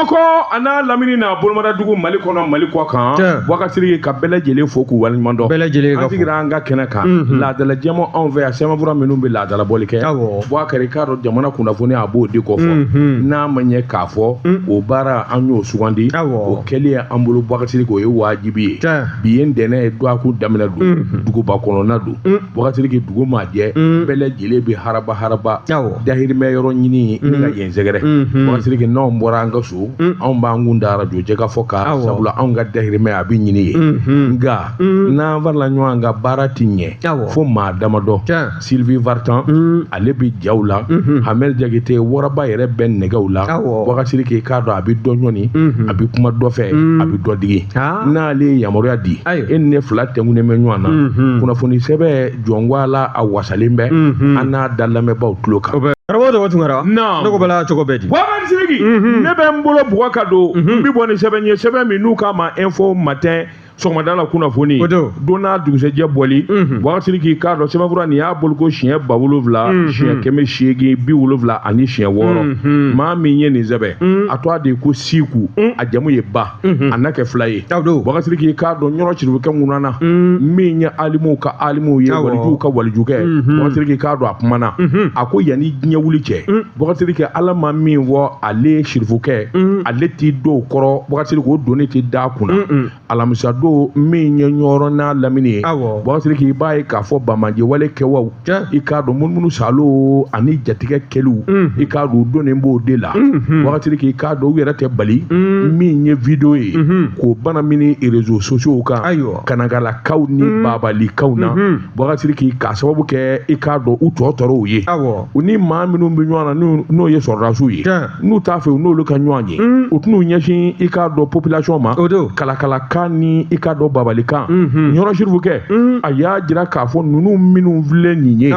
ko a n'a lamini n'a bolomadadugu mali kɔnɔ mali kɔkan boubacar siriki ka bɛɛ lajɛlen fo k'u waleɲuman dɔn bɛɛ lajɛlen ka fo an sigira an ka kɛnɛ kan mhm. laadala jɛmɔ anw fɛ yan sɛbɛnfura minnu bɛ laadala bɔli kɛ awɔ boubacar i k'a dɔn jamana kunnafoni a b'o de kofɔ mhm. n'a ma ɲɛ k'a fɔ mm. o baara an y'o sugandi awɔ o kɛli ye an bolo boubacar siriki o ye waajibi ye bi ye ntɛnɛn ye dɔgɔkun daminɛ don mhm. duguba kɔnɔna don mm. boubacar siriki dugu maa jɛ mm. bɛɛ lajɛlen bɛ haraba haraba awɔ dahirimɛ yɔrɔ ɲinini ka yen sɛgɛrɛ boubacar siriki n'anw bɔra an ka so anw b'an kun da arajo jɛkafɔ kan sabula anw ka dahirimɛ a bɛ ɲini yen nka n'an farala ɲɔgɔn kan baara tɛ ɲɛ fo maa damadɔ sylvie vartan ale bɛ jaw la hamel jakite waraba yɛrɛ bɛ nɛgɛw la boubacar siriki k'a dɔn a bɛ dɔ ɲɔni a bɛ kuma dɔ fɛ a bɛ dɔ digi n'ale ye yamaruya di e ni ne fila tugunnen bɛ ɲɔgɔn na kunnafoni sɛbɛn journal a wasalen bɛ mhm. an n'a da lamɛnbaaw tulo kan karamɔgɔ dɔgɔ tunkara ne ko bala cogo bɛ di boubacar siriki mhm. ne bɛ n bolo bugɔ ka don mhm. n bɛ bɔ ni sɛbɛn ye sɛbɛn min n'u k'a ma info matin sɔgɔmada la kunnafoni don n'a dugusɛjɛ bɔli boubacar siriki k'a dɔn sɛbɛnfura nin y'a bɔli ko siɲɛ ba wolonwula siɲɛ kɛmɛ seegin bi wolonwula ani siɲɛ wɔɔrɔ maa min ye nin sɛbɛn a tɔgɔ de ko siku a jamu ye ba unhun, a n'a kɛ fula ye awɔ boubacar siriki i k'a dɔn ɲɔrɔ sirifukɛ ŋunana Mm, min ye alimuw ka alimuw ye Awɔ. walijuw ka walijukɛ Mhm. boubacar siriki k'a dɔn a kumana Mhm. a ko yanni diɲɛ wuli cɛ Mm. boubacar siriki ala ma min fɔ ale sirifukɛ Mm. ale t'i don o kɔrɔ boubacar siriki o doni tɛ da a kunna Mm-mm. alamisa don min ye ɲɔrɔ n'a lamini ye Awɔ. boubacar siriki i b'a ye k'a fɔ banbaanci wale kɛbaaw i k'a dɔn munumunu salo ani jatigɛ kɛliw i k'a dɔn donnen b'o de la boubacar siriki k'a dɔn u yɛrɛ tɛ bali min ye video ye k'o banamini réseaux sociaux kan kanakalakaw ni baabaalikanw na boubacar siriki k'a sababu kɛ i k'a dɔn u tɔ tɔɔrɔw ye u ni maa minnu bɛ ɲɔgɔn na n'o ye sɔrɔdasiw ye n'u t'a fɛ u n'olu ka ɲɔgɔn ye mm. u tɛn'u ɲɛsin i k'a dɔn population ma kalakalakan ni i k'a dɔn baabaalikan mm-hmm. ɲɔrɔ sirifukɛ mm. a y'a jira k'a fɔ ninnu minnu filɛ nin ye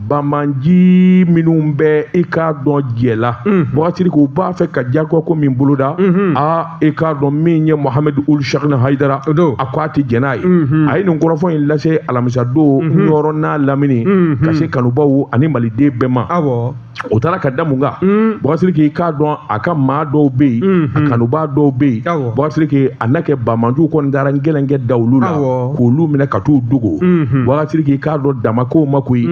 banbaanci minnu bɛ i k'a dɔn jɛ la mm. boubacar siriki u b'a fɛ ka jagoya ko min boloda mm-hmm. a i k'a dɔn min ye mohamɛdi ould cheikhna hayidara a ko a tɛ jɛn n'a ye mm-hmm. a ye nin kɔrɔfɔ in lase alamisadon ɲɔrɔ n'a lamini ka se kanubaw ani maliden bɛɛ ma o taara ka da mun kan boubacar siriki k'a dɔn a ka maa dɔw bɛ yen a kanubaa dɔw bɛ yen boubacar siriki a n'a kɛ banbaanciw kɔni taara gɛlɛn kɛ da olu la k'olu minɛ ka t'u dogo boubacar siriki k'a dɔn dama ko ma koyi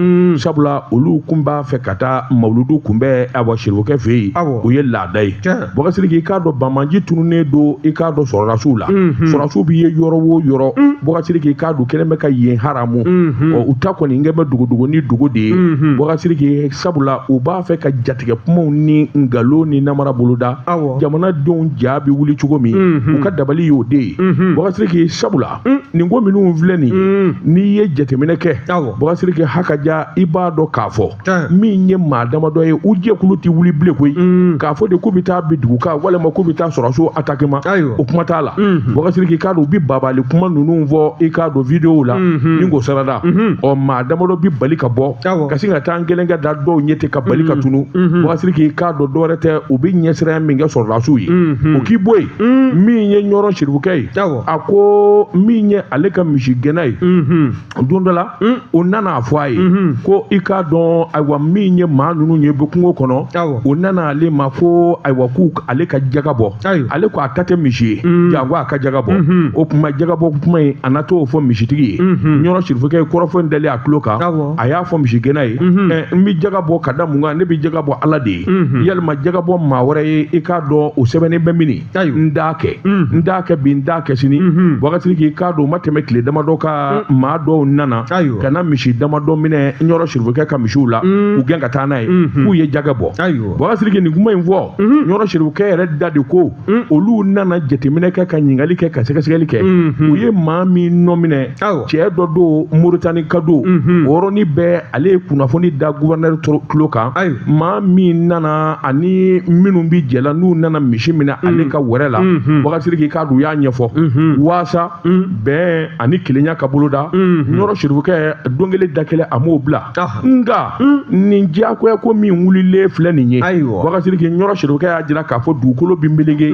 sabula olu tun b'a fɛ ka taa mawuludu kunbɛn awa sirifukɛ fɛ yen o ye laada ye Boka Siriki i k'a dɔn bamaji tununnen don i k'a dɔn sɔrɔdasiw la sɔrɔdasiw bɛ ye yɔrɔ o yɔrɔ Boka Siriki i k'a dɔn kɛlen bɛ ka yen haramu u ta kɔni in kɛ bɛ dogodogo ni dogo de ye Boka Siriki sabula u b'a fɛ ka jatigɛ kumaw ni nkalon ni namara boloda jamanadenw ja bɛ wuli cogo min u ka dabali y'o de ye Boka Siriki sabula nin ko minnu filɛ nin n'i ye jateminɛ kɛ Boka Siriki hakaja i b'a dɔn k'a fɔ min ye maa damadɔ ye u jɛkulu tɛ wuli bilen koyi mm. k'a fɔ de k'u bɛ taa bin dugu kan walima k'u bɛ taa sɔrɔdasi ataki ma o kuma t'a la mm-hmm. Boka Siriki i k'a dɔn u bɛ baabaali kuma ninnu fɔ i k'a dɔn videow la mm-hmm. ni k'o sarada mm-hmm. ɔ maa damadɔ bɛ bali ka bɔ ka sin ka taa an gɛlɛn ka da dɔw ɲɛ ten ka bali ka tunu Boka Siriki i k'a dɔn dɔwɛrɛ tɛ u bɛ ɲɛsiranya min kɛ sɔrɔdasiw ye o k'i bɔ yen mm. min ye ɲɔrɔ sirifukɛ ye a ko min ye ale ka misigɛnna ye don dɔ la hmm. o nana a fɔ a ye hmm. ko i k'a dɔn ayiwa min ye maa ninnu ye bɛ kungo kɔnɔ o nana ale ma ko ayiwa ko ale ka jaga bɔ ale ko a ta tɛ misi ye hmm. janko a ka jaga bɔ o kuma jaga bɔ kuma in a na t'o fɔ misitigi ye ɲɔrɔ sirifukɛ kɔrɔfɔ in dalen a tulo kan a y'a fɔ misigɛnna ye ɛ n bɛ jaga bɔ ka da mun kan ne bɛ jaga bɔ ala de ye yali maa jaga bɔ maa wɛrɛ ye i k'a dɔn o sɛbɛnnen bɛ min n t'a kɛ n t'a kɛ bi n t'a kɛ sini Boka Siriki i k'a dɔn o ma tɛmɛ tile damadɔ kan maa dɔw nana ka na misi damadɔ minɛ ɲɔrɔ sirifukɛ ka misiw la u gɛn ka taa n'a ye k'u ye jaga bɔ Boka Siriki nin kuma in fɔ ɲɔrɔ sirifukɛ yɛrɛ da de ko olu nana jateminɛ kɛ ka ɲininkali kɛ ka sɛgɛsɛgɛli kɛ u ye maa min nɔ minɛ cɛ dɔ don moritanika don o yɔrɔnin bɛɛ ale ye kunnafoni da guvɛrnɛri tulo kan ayi maa min nana ani minnu bɛɛ jɛla n'u nana misi minɛ mm. ale ka wɛrɛ la mm-hmm. Boka Siriki i k'a dɔn u y'a ɲɛfɔ mm-hmm. waasa mm. bɛn ani kelenya ka boloda mm-hmm. ɲɔrɔ sirifukɛ don kelen da kelen a m'o bila ah. nka mm. nin diyagoya ko min wulilen filɛ nin ye ayiwa Boka Siriki ɲɔrɔ sirifukɛ y'a jira k'a fɔ dugukolo bi melege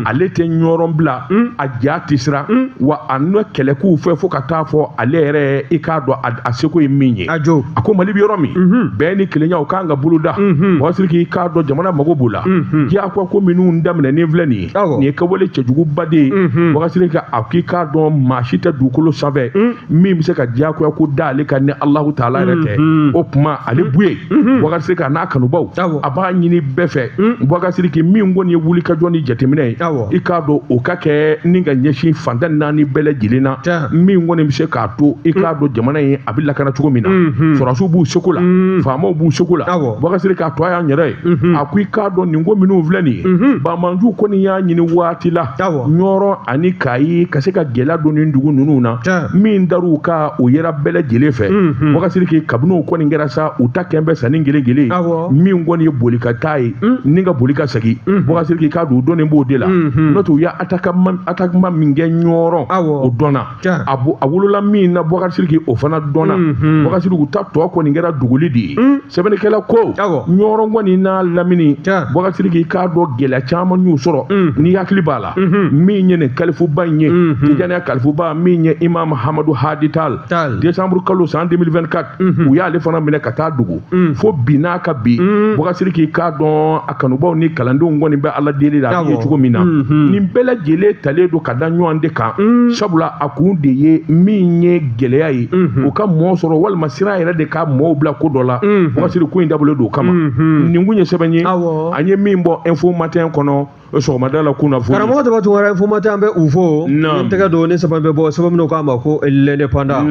ale tɛ ɲɔrɔ bila a ja tɛ siran wa a na kɛlɛ k'u fɛ fo ka taa fɔ ale yɛrɛ i k'a dɔn a a seko ye min ye a jo a ko mali bɛ yɔrɔ min bɛn ni kelenya o kan ka boloda Boka Siriki i k'a dɔn jamana mago b'o la diyagoya ko minnu daminɛnen filɛ nin ye nin ye kɛwale cɛjuguba de ye Boka Siriki a k'i k'a dɔn maa si tɛ dugukolo sanfɛ min bɛ se ka diyagoya ko da ale kan ni alahu taala yɛrɛ tɛ o tuma ale Buye Boka Siriki an'a kanubaw a b'a ɲini bɛɛ fɛ Boka Siriki min kɔni ye wulikajɔ ni jateminɛ ye i k'a dɔn o ka kɛ ni ka ɲɛsin fan tan naani bɛɛ lajɛlen na min kɔni bɛ se k'a to i k'a dɔn jamana in a bɛ lakana cogo min na sɔrɔsiw b'u seko la faamaw b'u seko la bakasiri k'a to a y'an yɛrɛ ye a ko i k'a dɔn nin ko minnu filɛ nin ye bamanju kɔni y'a ɲini waati la ɲɔrɔ ani kayi ka se ka gɛlɛya don nin dugu ninnu na min dar'u kan o yera bɛɛ lajɛlen fɛ bakasiri k'i kabini o kɔni kɛra sa u ta kɛn bɛ sanni kelen kelen min kɔni ye boli ka taa ye ni ka boli ka segin bakasiri k'i k'a dɔn u donnen b'o de la n'o tɛ u ye attaquement min kɛ ɲɔrɔ o dɔnna a a wolola min na bakasiri k'o fana dɔnna mhm. bakasiri k'u ta tɔ kɔni kɛra dogoli de ye mm. sɛbɛnnikɛla ko ɲɔrɔ kɔni n'a lamini bakasiri k'i k'a dɔn gɛlɛya caman y'u sɔrɔ mm. n'i hakili b'a la mhm. min ye nin kalifuba in ye mhm. tijaniya kalifuba min ye imam hamadu hadi tal décembre kalo san 2024 u y'ale fana minɛ ka taa dogo fo bi n'a ka bi bakasiri k'i k'a dɔn a kanubaw ni kalandenw kɔni bɛ ala deli la a ye cogo min na nin bɛɛ lajɛlen talen don ka da ɲɔgɔn de kan sabula a kun de ye min ye gɛlɛya ye o ka mɔɔ sɔrɔ walima siran yɛrɛ de ka mɔɔw bila ko dɔ la bakasiri ko in dabɔlen don o kama nin kun ye sɛbɛn ye an ye min bɔ info matin kɔnɔ o sɔgɔmada la kunnafoni karamɔgɔ tɔgɔ ture info matin an bɛ u fo n tɛgɛ don nin sɛbɛn bɛ bɔ sɛbɛn min n'u k'a ma ko l'indépendant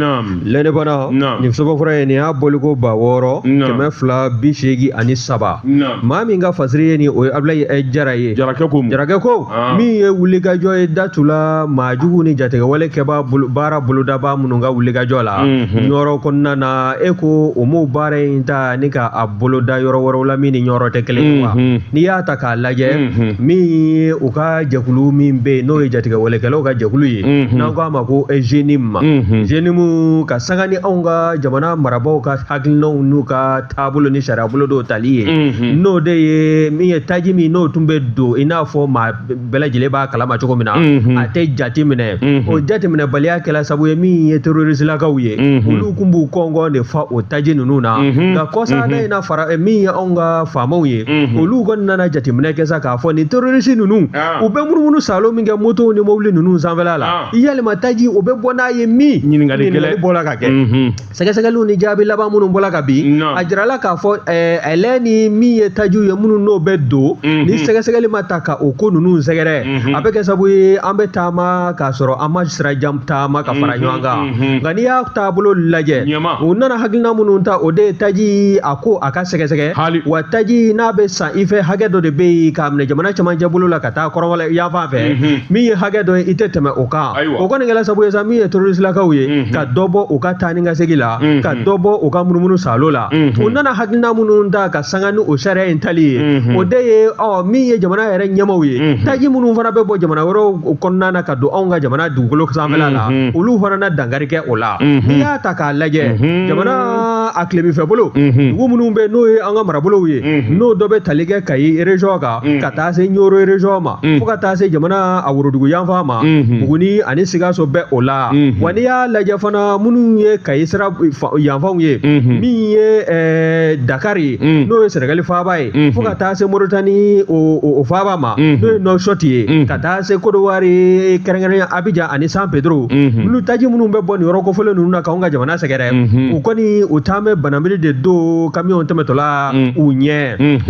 l'indépendant nin sɛbɛn fɔlɔ ye nin y'a bɔliko ba wɔɔrɔ kɛmɛ fila bi seegin ani saba maa min ka fasiri ye nin o ye abulayi eh, jara ye jarakɛ ko jarakɛ ko ah. min ye wulikajɔ ye datula maa jugu ni jatigɛwale kɛbaa baara bolodabaa minnu ka wulikajɔ la mhm. ɲɔrɔ kɔnɔna na e ko o m'o baara in ta ni ka a boloda yɔrɔ wɛrɛw la min ni ɲɔrɔ tɛ kelen ye wa mhm. n'i y'a ta k'a lajɛ min ye u ka jɛkulu min bɛ yen n'o ye jatigɛwalekɛlaw ka jɛkulu ye n'an k'a ma ko jnim ma jnim ka sanga ni anw ka jamana marabaaw ka hakilinaw n'u ka taabolo ni sariya bolo dɔw tali ye n'o de ye min ye taji min n'o tun bɛ don i n'a fɔ maa bɛɛ lajɛlen b'a kalama cogo min na a tɛ jate minɛ o jateminɛbaliya kɛla sabu ye min ye terroristilakaw ye olu kun b'u gɔngɔn de fa o taji ninnu na nka kɔsa in na fara min ye anw ka faamaw ye mhm. olu kɔni nana jateminɛ kɛ sa k'a fɔ nin terrorisi ninnu ah. u bɛ munumunu saalo min kɛ motow ni mobili ninnu sanfɛla la ah. yalima taji o bɛ bɔ n'a ye min ɲininkali bɔla ka kɛ mhm. sɛgɛsɛgɛliw ni jaabi laban minnu bɔla ka bin a jirala k'a fɔ eh, ɛlɛ ni min ye tajiw ye minnu n'o bɛ don mhm. ni sɛgɛsɛgɛli ma taa ka o ko ninnu sɛgɛrɛ a bɛ kɛ sabu ye an bɛ taama k'a sɔrɔ an ma sira jan taama ka fara ɲɔgɔn kan Mhm. nka n'i y'a taabolo lajɛ u nana hakilina minnu ta o de ye taji a ko a ka sɛgɛsɛgɛ wa taji n'a bɛ san i fɛ hakɛ dɔ de bɛ yen k'a minɛ jamana cɛmancɛ bolo la ka taa kɔrɔnfɛla yanfan fɛ mhm. min ye hakɛ dɔ ye i tɛ tɛmɛ o kan o kɔni kɛla sabu ye sa min ye terroristilakaw ye mhm. ka dɔ bɔ u ka taa ni ka segin la ka dɔ bɔ u ka munumunu saalo la u nana hakilina minnu ta ka sanga ni o sariya in tali ye o de ye ɔ min ye jamana yɛrɛ ɲɛmaaw ye taji minnu fana bɛ bɔ jamana wɛrɛw kɔnɔna na ka don anw ka jamana dugukolo sanfɛla la olu fana na dankari kɛ o la n'i y'a ta k'a lajɛ jamana a tilebinfɛ bolo dugu minnu bɛ n'o ye an ka marabolow ye n'o dɔ bɛ tali kɛ kayi erezɔn kan ka taa se ɲɔrɔ erezɔn ma fo ka taa se jamana a worodugu yanfan ma buguni ani sikaso bɛ o la wa n'i y'a lajɛ fana minnu ye kayi sira yanfanw ye min ye dakari ye n'o ye sɛnɛgali faaba ye fo ka taa se moritani o faaba ma n'o ye nɔsɔti ye ka taa se kodowari kɛrɛnkɛrɛnya abijan ani san pedro minnu taji minnu bɛ bɔ nin yɔrɔ kofɔlen ninnu na k'anw ka jamana sɛgɛrɛ u kɔni u taa bɛ banamiri de don kamiyɔn tɛmɛtɔlaw ɲɛ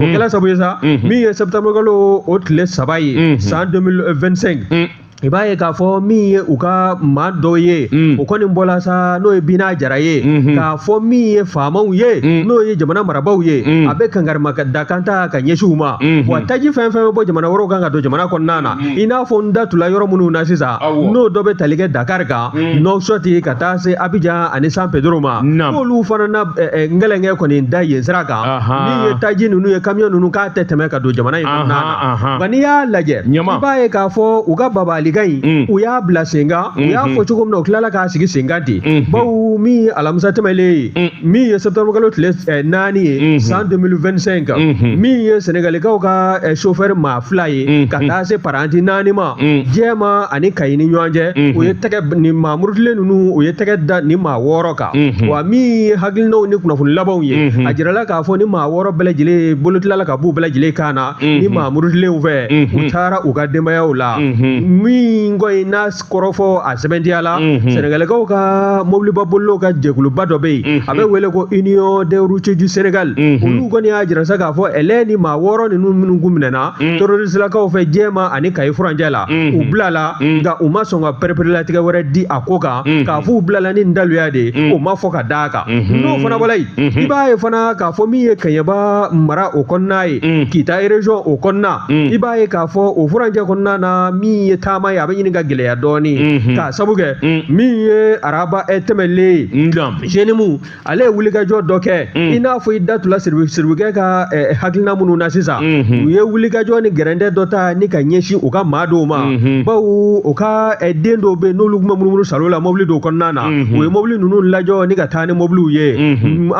o kɛla sabu ye sa min ye sɛtanburukalo o tile saba ye san 2025 i b'a ye k'a fɔ min ye u ka maa dɔ ye o kɔni bɔla sa n'o ye bina jara ye k'a fɔ min ye faamaw ye n'o ye jamana marabaaw ye a bɛ kankarimadakan ta ka ɲɛsin u ma Mm-hmm. wa taji fɛn fɛn bɛ bɔ jamana wɛrɛw kan ka don jamana kɔnɔna na mm-hmm. i n'a fɔ n da tula yɔrɔ minnu na sisan n'o dɔ bɛ tali kɛ dakari kan mm-hmm. nɔsɔti ka taa se abijan ani san pedro ma n'olu fana na eh, eh, n gɛlɛnkɛ kɔni da yen sira kan min ye taji ninnu ye kamiyɔn ninnu k'a tɛ tɛmɛ ka don jamana in kɔnɔna na nka n'i y'a lajɛ i b'a ye k'a fɔ u ka bagabagalikan in mm. u y'a bila senkan u y'a fɔ cogo min na u tilala k'a sigi senkan ten bawo min ye alamisa tɛmɛlen ye mm. min ye sɛtanburukalo tile eh, naani ye mm-hmm. san 2025 min ye sɛnɛgalikaw ka sofɛri maa fila ye ka taa se paranti naani ma jɛma ani kayi ni ɲɔgɔn cɛ u ye tɛgɛ ni maa murutilen ninnu u ye tɛgɛ da ni maa wɔɔrɔ kan wa min ye hakilinaw ni kunnafoni labanw ye a jirala k'a fɔ ni maa wɔɔrɔ bɛɛ lajɛlen bolo tilala ka b'u bɛɛ lajɛlen kan na ni maa murutilenw fɛ u taara u ka denbayaw la min ko in n'a kɔrɔfɔ a sɛbɛntiya la sɛnɛgalikaw ka mobiliba bolilaw ka jɛkuluba dɔ bɛ yen a bɛ wele ko union des routiers du Sénégal olu kɔni y'a jira sa k'a fɔ ɛlɛ ni maa wɔɔrɔ ninnu minnu kun minɛna terroristilakaw fɛ jɛma ani kayi furancɛ la u bilala nka u ma sɔn ka pereperelatigɛ wɛrɛ di a ko kan k'a fɔ u bilala ni daluya de ye o ma fɔ ka d'a kan n'o fana bɔla yen i b'a ye fana k'a fɔ min ye kɛɲɛba mara o kɔnɔna ye kita région o kɔnɔna i b'a ye k'a fɔ o furancɛ kɔnɔna na min ye taama ye ɲini ka gɛlɛya dɔɔni mhm. k'a sabu kɛ mm. min ye araba eh, tɛmɛlen ye mm, zenimu ale ye wulikajɔ dɔ kɛ mm. i n'a fɔ i da tula siribukɛ ka eh, hakilina minnu na sisan mhm. u ye wulikajɔ ni gɛrɛntɛ dɔ ta ni ka ɲɛsin u ka maa dɔw ma mhm. bawo u ka eh, den dɔw bɛ n'olu tun bɛ munumunusaalo la mɔbili dɔw kɔnɔna na u ye mɔbili ninnu lajɔ ni ka taa ni mɔbiliw ye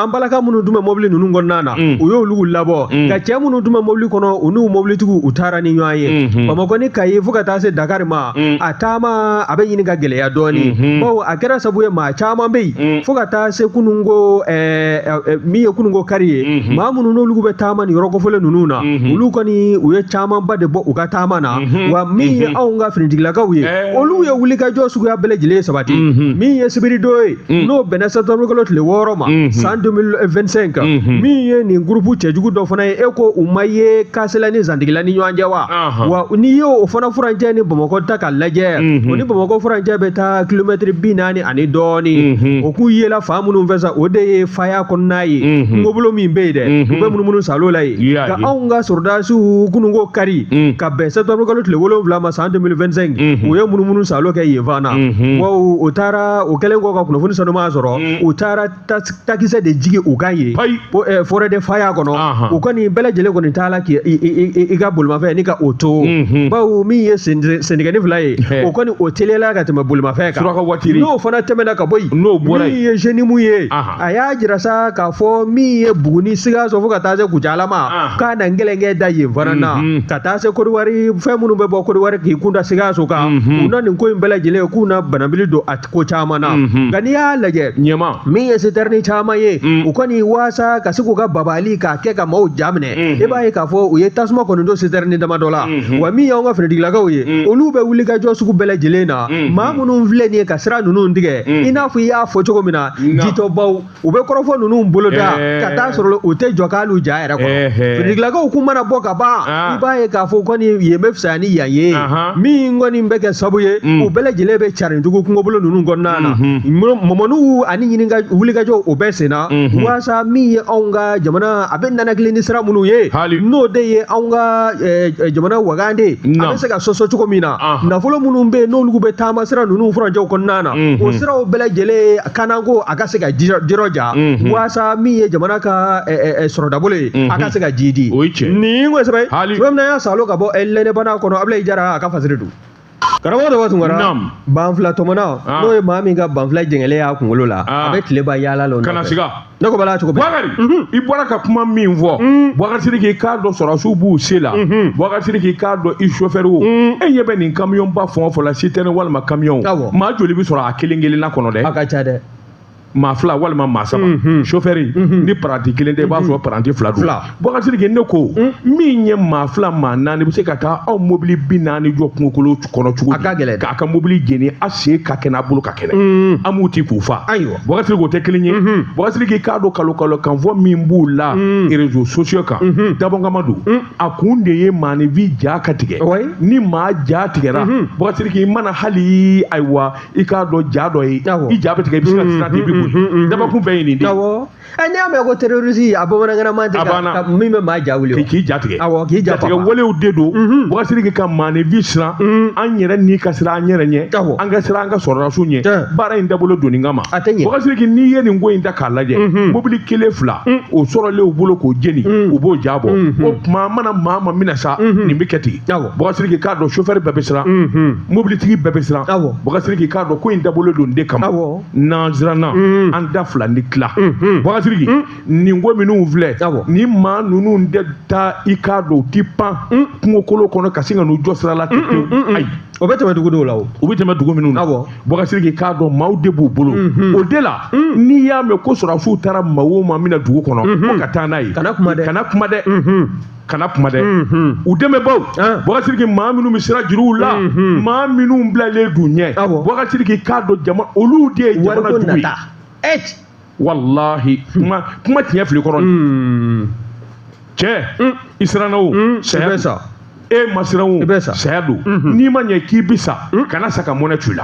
an balaka minnu tun bɛ mɔbili ninnu kɔnɔna na Mm. u y'olu labɔ mm. nka cɛ minnu tun bɛ mobili kɔnɔ u n'u mobilitigiw u taara ni ɲɔgɔn ye mm-hmm. bamakɔ ni kayi fo ka taa se dakari ma mm. a taama a bɛ ɲini ka gɛlɛya dɔɔni mm-hmm. bawo a kɛra sabu ye maa caman bɛ yen fo ka taa se kununko eh, eh, eh, min ye kununko kari ye mm-hmm. maa minnu n'olu bɛ taama ni yɔrɔ kofɔlen ninnu na olu kɔni u ye camanba de bɔ u ka taama na wa min ye anw ka finitigilakaw ye olu ye wulikajɔ suguya bɛɛ lajɛlen sabati min ye sibiridon ye Mm. n'o bɛnna sɛtanburu kalo tile wɔɔrɔ ma mm-hmm. san 2025 kan mm-hmm. min ye nin gurupu cɛjugu dɔ fana ye e ko u ma ye kasela ni zantigila ni ɲɔgɔn cɛ wa uh-huh. wa n'i ye o fana furancɛ ni bamakɔ ta ka lajɛ mm-hmm. o ni bamakɔ furancɛ bɛ taa kilomɛtiri bi naani ani dɔɔni o k'u yela fan minnu fɛ sa o de ye faya kɔnɔna ye kungobolo min bɛ yen dɛ u bɛ munumunu salo la yen ka anw ka sɔrɔdasiw kunun ko kari mm. ka bɛn sɛtanburu kalo tile wolonwula ma san 2025 u ye munumunu salo kɛ yen fana wa o taara o kɛlen kɔ ka kunnafoni sanuman sɔrɔ mm. u taara takisɛ de jigi u kan yen eh, forêt de faya kɔnɔ u kɔni bɛɛ lajɛlen kɔni t'a la k'i ka bolimafɛn nin k'o to mm-hmm. bawo min ye sentɛgɛnin fila ye o kɔni o teliyala ka tɛmɛ bolimafɛn kan n'o fana tɛmɛna ka bɔ yen min ye jenimu ye a y'a jira sa k'a fɔ min ye buguni sikaso fo ka taa se kucala ma ah. k'a na nkelenkɛ da yen fana na mhm. ka taa se kodiwari fɛn minnu bɛ bɔ kodiwari k'i kunda sikaso kan mhm. u na nin ko in bɛɛ lajɛlen k'u na banabili don a ko caman na mhm. nka n'i y'a lajɛ min ye sitɛrini caman ye mm. u kɔni waasa ka se k'u ka babali k'a kɛ ka maaw ja minɛ i b'a ye k'a fɔ u ye tasuma kɔni don sitɛrini dama dɔ la wa min y'anw ka finitigilakaw ye mm. olu bɛ wulikajɔ sugu bɛɛ lajɛlen na mm. maa minnu filɛ nin ye ka sira ninnu tigɛ i n'a fɔ i y'a fɔ cogo min na jitɔbaw u bɛ kɔrɔfɔ ninnu bolo da ka taa sɔrɔ u tɛ jɔ hal'u ja yɛrɛ kɔrɔ finitigilakaw kun mana bɔ ka ban i b'a ye k'a fɔ kɔni yen bɛ fisaya ni yan ye min kɔni bɛ kɛ sabu ye u bɛɛ lajɛlen bɛ carin jugu kungobolo ninnu kɔnɔna na mɔmɔniw ani ɲininka wulikajɔw o bɛɛ senna walasa min ye anw ka jamana a bɛ ninakili ni sira minnu ye n'o de ye anw ka jamana wagande a bɛ se ka sɔsɔ cogo min na nafolo minnu bɛ yen n'olu bɛ taama sira ninnu furancɛw kɔnɔna na o siraw bɛɛ lajɛlen kanako a ka se ka jirɔja waasa min ye jamana ka sɔrɔdabolo ye a ka se ka jiidi o cɛ nin kosɛbɛ na y'a salo ka bɔ lɛnɛbana kɔnɔ abulayi jara a ka fasiri don karamɔgɔ dɔ b'a tunkara banfula tɔmɔnna n'o ye maa min ka banfula jɛngɛlen y'a kunkolo la a bɛ tileba yaala la ne ko bala cogo bakari i bɔra ka kuma min fɔ mm. bakari siri k'i k'a dɔn sɔrɔdasiw b'u se la mm-hmm. bakari siri k'i k'a dɔn i sofɛriw mm. e ɲɛ bɛ nin kamiyɔnba fɛn o fɛn la sitɛni walima kamiyɔn maa joli bɛ sɔrɔ a kelen kelenna kɔnɔ dɛ a ka ca dɛ maa fila walima maa saba mm-hmm. sofɛri mm-hmm. ni paranti kelen tɛ i b'a sɔrɔ paranti fila don Boubacar Siriki ne ko min ye maa fila maa naani bɛ se ka taa aw mobili bi naani jɔ kungokolo kɔnɔ cogo di a ka gɛlɛn k'a ka mobili jeni a sen ka kɛnɛ a bolo ka kɛnɛ a m'u ti k'u fa ayiwa Boubacar Siriki o tɛ kelen ye Boubacar Siriki i k'a dɔn kalon kalon kan fɔ min b'u la réseaux sociaux kan dabɔnkama don a kun de ye maaninfin ja ka tigɛ ni maa ja tigɛra Boubacar Siriki i mana hali ayiwa i k'a dɔn ja dɔ ye i ja bɛ tigɛ i bɛ se ka siran ten i bɛ boli dabɔkun bɛɛ ye nin de ye ɛ n'i y'a mɛn ko terroriste a bamanankan na ma deli A banna. ka ka- min bɛ maa ja wuli o. k'i k'i jatigɛ Awɔ, k'i ja jatigɛ papa. walew de don Mhm. Boubacar Siriki ka maaninfin siran Mhm. an yɛrɛ ni ka siran an yɛrɛ ɲɛ Awɔ. an ka siran an ka sɔrɔdasiw ɲɛ Tiɲɛ. baara in dabɔlen don nin kama A tɛ ɲɛ. Boubacar Siriki n'i ye nin ko in ta k'a lajɛ Mhm. mobili kelen fila o sɔrɔlen u bolo k'o jeni Mhm. u b'o ja bɔ Mhm. o tuma an mana maa ma minɛ sa Mhm. nin bɛ kɛ ten Awɔ. Boubacar Siriki k'a dɔn sofɛri bɛɛ bɛ siran Mhm. mobilitigi bɛɛ bɛ siran Awɔ. Boubacar Siriki k'a dɔn ko in dabɔlen don o de kama Awɔ. n'an siranna mm. an da fila ni tila mm-hmm. Boubacar Siriki mm. nin ko minnu filɛ ni maa ninnu tɛ taa i k'a dɔn u ti pan mm. kungokolo kɔnɔ ka sin ka n'u jɔ sira la ten pewu ayi o bɛ tɛmɛ dugu dɔw la o o bɛ tɛmɛ dugu minnu na Boubacar Siriki k'a dɔn maaw de b'u bolo mm-hmm. o de la n'i y'a mɛn ko sɔrɔdasiw taara maa o maa mina dugu kɔnɔ mm-hmm. ko ka taa n'a ye kana kuma dɛ kana kuma dɛ kana kuma dɛ u dɛmɛbaaw Boubacar Siriki maa minnu bɛ sira juruw la maa minnu bilalen d'u ɲɛ Boubacar Siriki k'a dɔn jama olu de ye jamana jugu ye walahi kuma kuma tiɲɛ fili kɔrɔcɛ i siranna o saya sa e ma siran o saya don n'i ma ɲɛ k'i bi sa kana sa ka mɔnɛ t'u la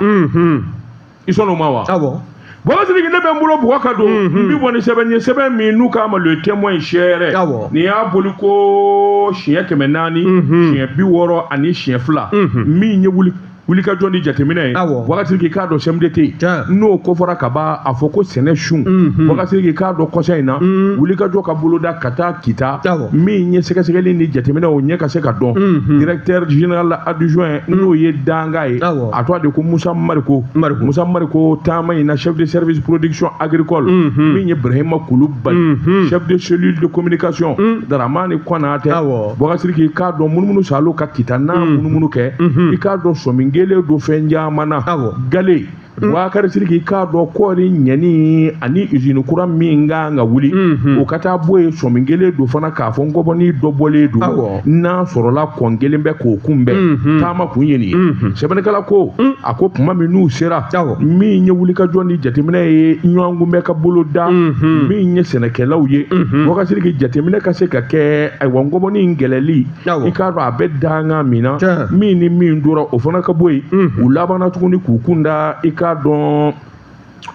i sɔn o ma wa. awɔ. Boubacar Siriki ne bɛ n bolo bɔgɔ ka don n mhm. bi bɔ ni sɛbɛn ye sɛbɛn min n'u k'a ma le témoin sɛɛrɛ nin y'a bɔli ko siɲɛ kɛmɛ naani mhm. siɲɛ bi wɔɔrɔ ani siɲɛ fila mhm. min ye wuli wulikajɔ ni jateminɛ ye Boubacar Siriki k'a dɔn CMDT yen n'o kofɔra ka ban a fɔ ko sɛnɛ sun mhm. Boubacar Siriki k'a dɔn kɔsa in na mhm. wulikajɔ k'a boloda ka taa kita min ye sɛgɛsɛgɛli ni jateminɛ o ɲɛ ka se ka dɔn mhm. directeur général adjoint n'o ye dankan ye a tɔgɔ de ko musa mariko mariko musa mariko taama in na chef de service production agricole mhm. min ye brahima kulubali mhm. chef de cellule de communication mhm. daramani kɔnatɛ Boubacar Siriki i k'a dɔn munumunu salo ka kita n'a munumunu kɛ i k'a dɔn sɔmin kɛlen don fɛn caman na galen Mm. Boubacar Siriki k'a dɔn kɔɔri ɲɛni ani izini kura min ka kan ka wuli mm-hmm. o ka taa bɔ yen sɔmin kɛlen don fana k'a fɔ ngɔbɔni dɔ bɔlen don n'a sɔrɔla kɔn kɛlen bɛ k'o kunbɛn mhm. taama kun ye nin ye mhm. sɛbɛnnikɛla ko mhm. a ko tuma min n'u sera min ye wulikajɔ ni jateminɛ ye ɲɔgɔn kunbɛn ka bolo da min ye sɛnɛkɛlaw ye Boubacar Siriki jateminɛ ka se ka kɛ ayiwa ngɔbɔni in kɛlɛli i k'a dɔn a bɛ dankan min na min ni min dora o fana ka bɔ yen u labanna tuguni k'u kun da i k'a dɔn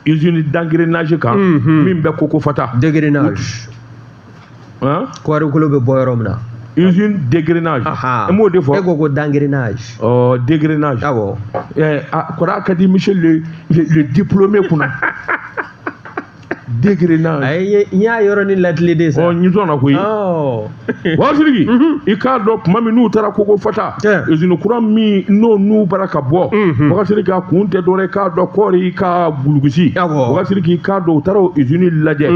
usine d'engrenage kan min bɛ kokofata han kɔɔrikolo bɛ bɔ yɔrɔ min na usine d'égrenage n b'o de fɔ e ko ko d'engrenage ɔ d'égrenage awɔ ɛɛ a kɔrɔ ka di monsieur le le diplômé kunna d'égrenage ayi n y'a yɔrɔnin latilen de sa ɔ n sɔnna koyi ɔ Bokasiriki i k'a dɔn tuma min n'u taara Kokofata usine kura min n'o n'u b'a ra ka bɔ Bokasiriki a kun tɛ dɔwɛrɛ k'a dɔn kɔɔri ka gulugusi Bokasiriki i k'a dɔn u taara o usine lajɛ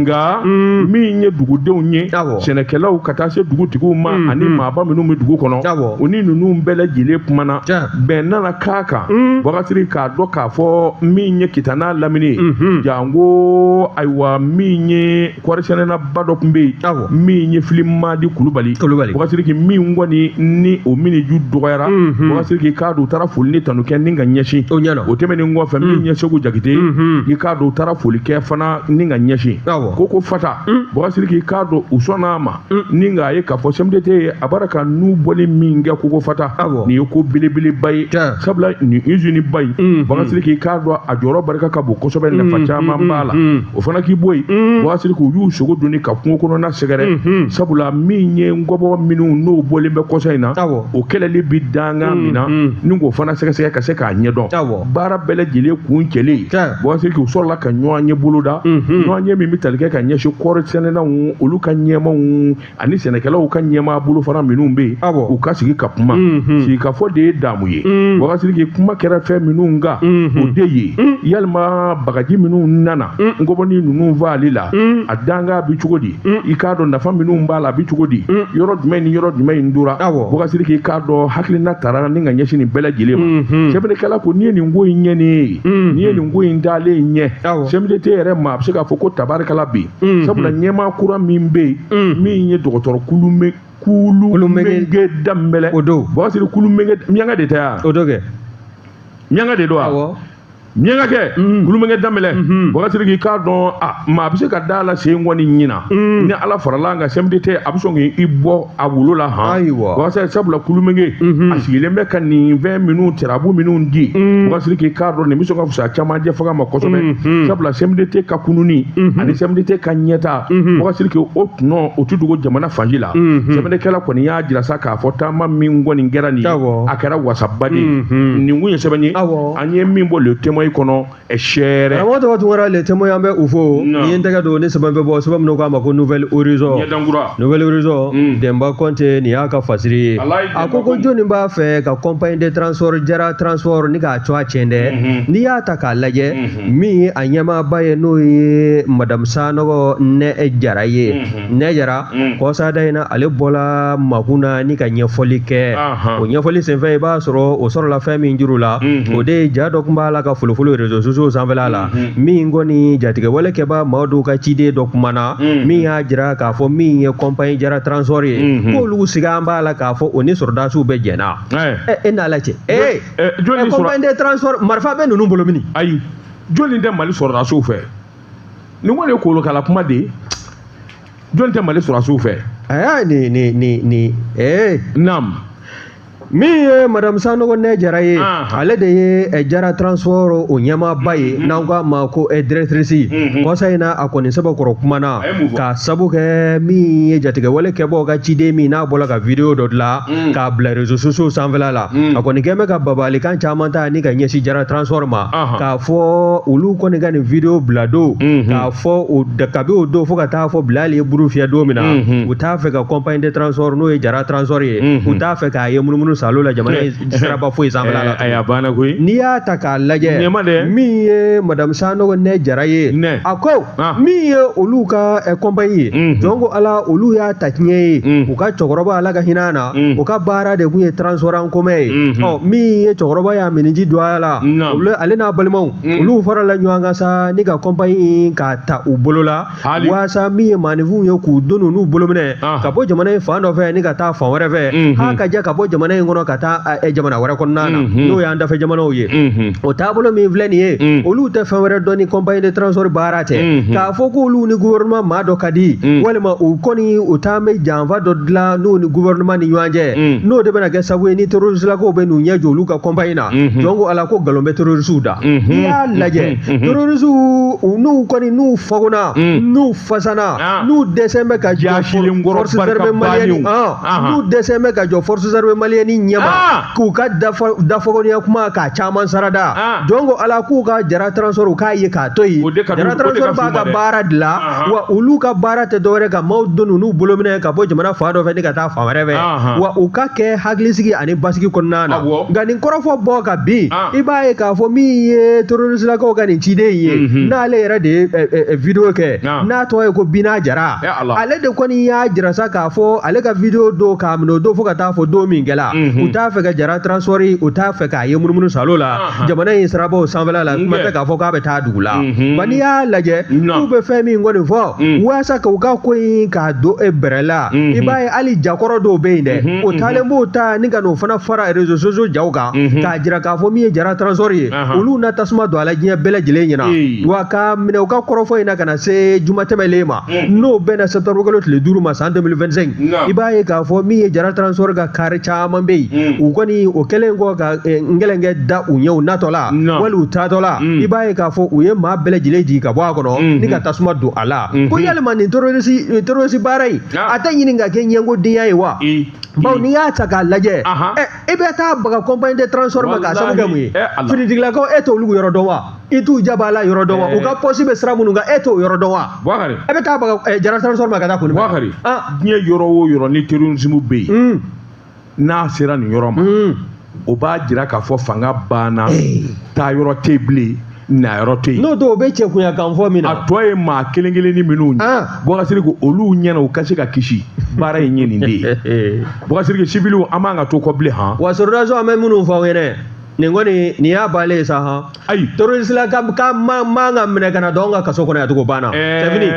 nka min ye dugudenw ye sɛnɛkɛlaw ka taa se dugutigiw ma ani maaba minnu bɛ dugu kɔnɔ u ni ninnu bɛɛ lajɛlen kumana bɛn nana k'a kan Bokasiriki k'a dɔn k'a fɔ min ye Kita n'a lamini janko ayiwa min ye kɔɔrisɛnɛnaba dɔ tun bɛ yen awɔ min ye Filimadi Kulubali Kulubali Bokasiriki min kɔni ni o mini ju dɔgɔyara mhm. Bokasiriki k'a dɔn u taara foli ni tanu kɛ ni ka ɲɛsin o ɲɛna o tɛmɛnen kɔfɛ min mhm. ye Segu Jakite mhm. i k'a dɔn u taara foli kɛ fana ni ka ɲɛsin awɔ Kokofata Bokasiriki k'a dɔn u sɔnna a ma n'i k'a ye k'a fɔ CMDT ye a b'a ka nu bɔli min kɛ Kokofata nin ye ko belebeleba ye sabula nin usine ba in mm, Bokasiriki mm. i k'a dɔn a jɔyɔrɔ barika ka bon kosɛbɛ mm, nafa caman b'a la o fana k'i bɔ yen Bokasiriki u y'u sogo dɔɔnin ka kungo kɔnɔna sɛgɛrɛ sabula min ye ngɔbɔ minnu n'o bɔlen bɛ kɔsa in na o kɛlɛli bi dankan min na ni k'o fana sɛgɛsɛgɛ ka se k'a ɲɛdɔn baara bɛɛ lajɛlen kuncɛlen Bokasiriki u sɔrɔla ka ɲɔgɔnye boloda ɲɔgɔnye min bɛ tali kɛ ka ɲɛsin kɔɔrisɛnɛnaw olu ka ɲɛmaw ani sɛnɛkɛlaw ka ɲɛmaa bolo fana minnu bɛ yen u ka sigi ka kuma sigikafɔ de ye damu ye Bokasiriki kuma kɛra fɛn minnu kan o de ye yalima bagaji minnu nana ngɔbɔnin ninnu faali la a danga bɛ cogo di i k'a dɔn nafa minnu b'a la a bɛ cogo di yɔrɔ jumɛn ni yɔrɔ jumɛn in tora Bokasiriki i k'a dɔn hakilina taara ni ka ɲɛsin nin bɛɛ lajɛlen ma sɛbɛnnikɛla ko n'i ye nin ko in ɲɛani ye mm-hmm. n'i ye nin ko in dalen ɲɛ CMDT yɛrɛ ma a bɛ se k'a fɔ ko tabarikala bɛ yen sabula ɲɛmaa kura min bɛ yen min ye dɔgɔtɔrɔ Kulumɛ Kulumɛge Danbɛlɛ o don Bokasiriki Kulumɛge miyanka de tɛ yan o don kɛ miyanka de don wa miyanka kɛ Kulumɛge Danbɛlɛ Bokasiriki i k'a dɔn maa bɛ se ka da a la sen kɔni ɲinan ni ala farala an ka CMDT a bɛ sɔn k'i bɔ a wolo la han ayiwa Bokasiriki sabula Kulumɛge a sigilen bɛ ka nin fɛn minnu tirabu minnu di Bokasiriki i k'a dɔn nin bɛ sɔn ka fisa caman jɛ faga ma kosɛbɛ sabula CMDT ka kununi ani CMDT ka ɲɛtaa Bokasiriki o tɔnɔ o tɛ dogo jamana fan si la sɛbɛnnikɛla kɔni y'a jira sa k'a fɔ taama min kɔni kɛra nin ye a kɛra wasaba de ye nin kun ye sɛbɛn ye an ye min bɔ Le Témoin kɔnɔ sɛɛrɛ karamɔgɔ tɔgɔ tunkara le témoin an bɛ u fo Non. ni ye n tɛgɛ don ni sɛbɛn bɛ bɔ sɛbɛn min n'u k'a ma ko nouvel horizon ɲɛdan kura nouvel horizon Mm. denba kɔnte nin y'a ka fasiri ye Alayi a ko Denba ko Kɔnte. jɔnni b'a fɛ ka compagnie de transport jara transport ni k'a tɔgɔ tiɲɛ dɛ Mhm. n'i y'a ta k'a lajɛ Mhm. min ye a ɲɛmaaba ye n'o ye madame sanɔgɔ nɛ jara ye Mhm. nɛ jara mm. kɔsada in na ale bɔla makun na ni ka ɲɛfɔli kɛ o ɲɛfɔli senfɛ i b'a sɔrɔ o sɔrɔla fɛn min juru la mm-hmm. o de ye ja dɔ tun b'a la ka folofolo réseaux sociaux sanfɛla la mm-hmm. min kɔni jatigɛwale kɛbaa maa dɔw ka ciden dɔ kumana mm-hmm. min y'a jira k'a fɔ min ye compagnie jara transport ye k'olu sigan b'a la k'a fɔ o ni sɔrɔdasiw bɛ jɛn na e n'a la cɛ ee compagnie de transport marifa bɛ ninnu bolo mini ayi jɔnni tɛ mali sɔrɔdasiw fɛ nin kɔni ye kolokala kuma de ye jɔn tɛ mali sɔrɔdasiw fɛ aa ni ni ni ni ee nam min ye madame sanɔgɔ nɛ jara ye Ah. ale de ye eh, jara transport o ɲɛmaaba ye n'an ko a ma ko eh, directrice Mhm. kɔsa in na a kɔni sɛbɛkɔrɔ kumana A ye mun fɔ? k'a sabu kɛ min ye jatigɛwale kɛbaaw ka ciden min n'a bɔla ka video dɔ dilan Mm. k'a bila réseaux sociaux sanfɛla la Mhm. a kɔni kɛn bɛ ka babalikan caman ta ni k'a ɲɛsin jara transport ma Ahan. k'a fɔ olu kɔni ka nin video bila don k'a fɔ kabi o don fo ka taa fɔ bilali ye buru fiyɛ don min na u t'a fɛ ka compagnie de transport n'o ye jara transport ye u t'a fɛ k'a ye munumunu salo la jamana in siraba foyi sanfɛla la a banna koyi n'i y'a ta k'a lajɛ min ye madame sanɔgɔ nɛ jara ye a ko Ah. min ye olu ka eh, compagnie ye mhm. jɔn ko ala olu y'a ta tiɲɛ ye mhm. u ka cɛkɔrɔba ala ka hin'a na mhm. u ka baara de tun ye transport en commun ye ɔ min ye cɛkɔrɔba y'a miniji don a la ale n'a balimaw olu farala ɲɔgɔn kan sa ni ka compagnie k'a ta u bolo la waasa min ye maaninfinw ye k'u doni n'u bolominɛn ah. ka bɔ jamana in fan dɔ fɛ ni ka taa fan wɛrɛ fɛ h'a ka jɛ ka bɔ jamana in kɔnɔ ka taa eh, jamana wɛrɛ kɔnɔna na n'o y'an dafɛ jamanaw ye o taabolo min filɛ nin ye mm. olu tɛ fɛn wɛrɛ dɔn ni compagnie de transport baara tɛ mm-hmm. k'a fɔ k'olu ni gouvernement maa dɔ ka di mm. walima u kɔni u taan bɛ janfa dɔ dilan n'u ni gouvernement ni ɲɔgɔn cɛ mm. n'o de bɛna kɛ sababu ye ni terroristelakaw bɛ n'u ɲɛ jɔ olu ka compagnie na mm-hmm. jɔn ko ala ko nkalon bɛ terroristiw da mm-hmm. n'i y'a lajɛ terroristiw n'u kɔni n'u fagona n'u fasana ah. n'u dɛsɛn bɛ ka jɔ forces armées maliennes ah. ah. n'u dɛsɛn bɛ ka jɔ forces armées maliennes ɲɛma ah. k'u ka dafɔkɔniya kuma k'a caman sarada ah. jɔn ko ala k'u ka jara transport u k'a ye k'a to yen jara transport b'a ka baara de la ah, ah. wa olu ka baara tɛ dɔwɛrɛ ka maaw doni n'u bolominɛn ka bɔ jamana fan dɔ fɛ ni ka taa fan wɛrɛ fɛ wa u ka kɛ hakilisigi ani basigi kɔnɔna na nka nin kɔrɔfɔ bɔ ka bin i b'a ye k'a fɔ min ye terroristelakaw ka nin ciden ye mhm. n'ale yɛrɛ de ye eh, eh, eh, video kɛ n'a tɔgɔ ye ko bina jara ale de kɔni y'a jira sa k'a fɔ ale ka video don k'a minɛ o don fo ka taa fɔ don min kɛla mhm. u t'a fɛ ka jara transport u t'a fɛ k'a ye munumunu salo la jamana in sirabaw sanfɛla la kuma tɛ k'a fɔ k'a bɛ taa dugu la mhm. nka n'i y'a lajɛ k'u bɛ fɛn min kɔni fɔ mm. walasa ka u ka ko in k'a don e bɛrɛ la mhm. i b'a ye hali jakɔrɔ dɔw bɛ yen dɛ o taalen b'o ta ni ka n'o fana fara réseaux sociaux jaw kan k'a jira k'a fɔ min ye jara transport ye olu na tasuma don a la diɲɛ bɛɛ lajɛlen ɲɛna wa k'a minɛ u ka kɔrɔfɔ in na ka na se juma tɛmɛlen ma n'o bɛnna septembre kalo tile duuru ma san 2025 i b'a ye k'a fɔ min ye jara transport ka kari caman bɛ yen u kɔni o kɛlen kɔ ka ngɛlɛnkɛ da u ɲɛ u natɔla wali u taatɔla i b'a ye k'a fɔ u ye maa bɛɛ lajɛlen jigin ka bɔ a kɔnɔ ni ka tasuma don a la ko yalima nin terroriste baara in a tɛ ɲini ka kɛ ɲɛngodenya ye wa bawo n'i y'a ta k'a lajɛ e bɛ taa baga compagnie de transport ma k'a sabu kɛ mun ye finitigilakaw e t'olu yɔrɔ dɔn wa i t'u jaba la yɔrɔ dɔn wa u ka pɔsi bɛ sira minnu kan e t'o yɔrɔ dɔn wa bakari e bɛ taa baga jara transport ma ka taa kɔni bakari diɲɛ yɔrɔ o yɔrɔ ni terrorisme bɛ yen n'a sera nin yɔrɔ ma o b'a jira k'a fɔ fanga banna taa yɔrɔ tɛ bilen na yɔrɔ tɛ yen n'o tɛ o bɛ cɛkunya kan fɔ min na a tɔ ye maa kelen kelen ni minnu ye ah. bɔgasiri ko olu ɲɛna u ka se ka kisi baara in ye nin de ye bɔgasiri sibiliw an man kan ka to kɔ bilen han wa sɔrɔdasiw an bɛ minnu fɔ aw ye dɛ nin kɔni nin y'a baale ye sa han ayi terroristelaka man kan ka minɛ ka na don an ka kaso kɔnɔ yan tugun o banna c'est fini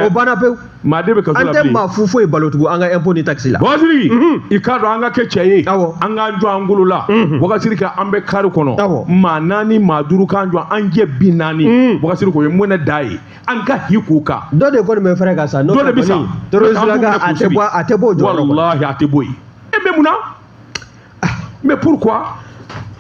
o banna pewu maa de bɛ kaso la bilen an tɛ maa fu foyi balo tugun an ka impôt ni taxe la wakasiri mhm. i k'a dɔn an ka kɛ cɛ ye awɔ an k'an jɔ an golo la mhm. wakasiri ka an bɛ kari kɔnɔ awɔ maa naani maa duuru k'an jɔ an jɛ bi naani mhm. wakasiri ko ye mun na da ye an ka hi k'u kan dɔ de kɔni bɛ fɛrɛ ka sa dɔ de bɛ sa terroristelaka a tɛ bɔ a tɛ bɔ o jɔyɔrɔ kɔnɔ walahi a tɛ bɔ yen e bɛ mun na mais pourquoi